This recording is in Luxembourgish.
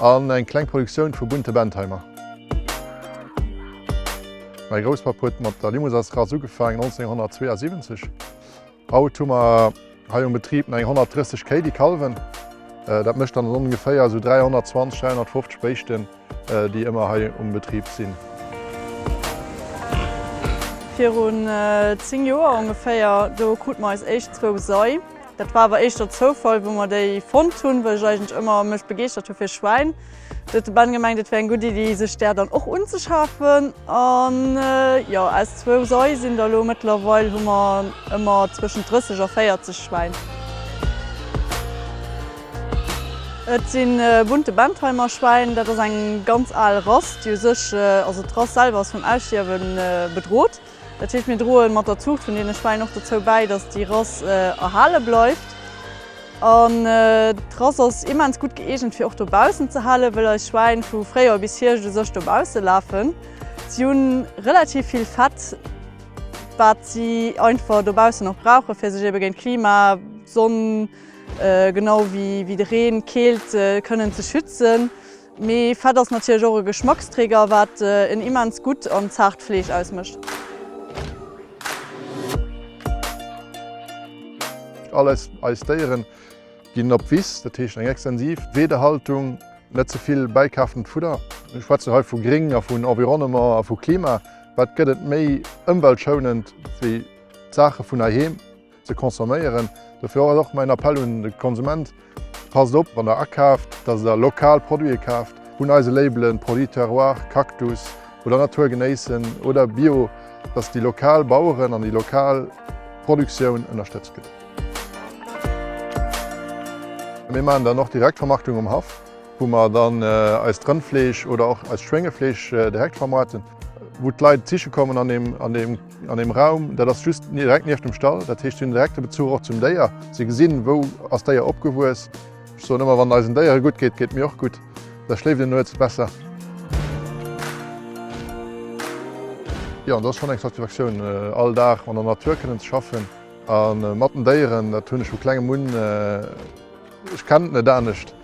An eng kleng Produktioun vu bunte Bentheimer. Mäi Grousspapp huet mat der Limousinsrass ugefaangen 1972. Haut hu mer hei um Betrib eng 130 Kéi déi kalwen. Dat mécht dann ongeféier esou 320, 350 Béischten déi ëmmer hei um Betrib sinn. Virun 10 Joer ongeféier, do krute mer eis éischt zwou Sei. Dat war awer éischter Zoufall wou mer déi fonnt hunn, well ech eigentlech ëmmer mech begeeschtert hu fir Schwäin. Du huet de Ben gemengt et wär eng gutt Iddi sech där dann och unzeschafen an jo aus zwou Sei sinn der elo mëttlerweil hu mer ëmmer zwëschent 30 a 40 Schwäin. Et si bunte Bentheimer Schwäin, dat ass eng ganz al Rass déi u sech, also d'Rass selwer ass vum Ausstierwe bedrot. Dat heescht, mir droe mat der Zuucht vun deene Schwäin och dozou bäi, datt déi Rass erhale bleift. An d'Rass ass immens gutt gëeegent, fir och dobaussen ze halen, wëll eis Schwäin vu Fréijoer bis Hierscht u sech dobausse lafen. Si hu relativ vill Fett, wat si einfach dobaussen och brauchen, fir sech ebe géint Klima, Sonn, genau wéi de Reen, Keelt kënnen ze schützen. Mee Fett ass natierlech och e Geschmacksträger, wat en immens gutt an zaart Fleesch ausmécht. All eis Déieren ginn op d'Wiss, dat heescht eng extensiv Weedehaltung, net ze vill bäikaaftent Fudder. Ech schwätzen hei vu Gring a vun Environnement a vu Klima. Wat gëtt et méi ëmweltschounend wéi d'Saache vun heiheem? ze consomméieren. Dofir ass och mäin Appell un de Konsument, Passt op wann der akaaft, dass der lokal Produite kaaft, un eise Labelen Produits Terroir, Cactus oder Natur genéissen oder Bio, dass déi lokal Baueren an déi lokal Produktioun ënnerstëtzt gëtt. Mir maachen dann och Direktvermarktung um Haff, wou mer dann eist Rëndfleesch oder och eist Schwéngefleesch direkt vermaarten, wou d'Leit d'Kiche kommen an deem. An deem Raum, dat ass just direkt nieft dem Stall, dat heescht si hunn direkte Bezuch och zum Déier. Si gesinn, wou ass d'Déier opgewuess. Ech soen ëmmer, wann eisen Déiere gutt geet, geet mir och gutt, da schléift een nuets besser. Jo, dat ass schonn eng Satisfaktioun, all Dag an der Natur kënnen ze schaffen a mat den Déieren. Dat hunn ech vu klengem un, ech kennen et net anescht.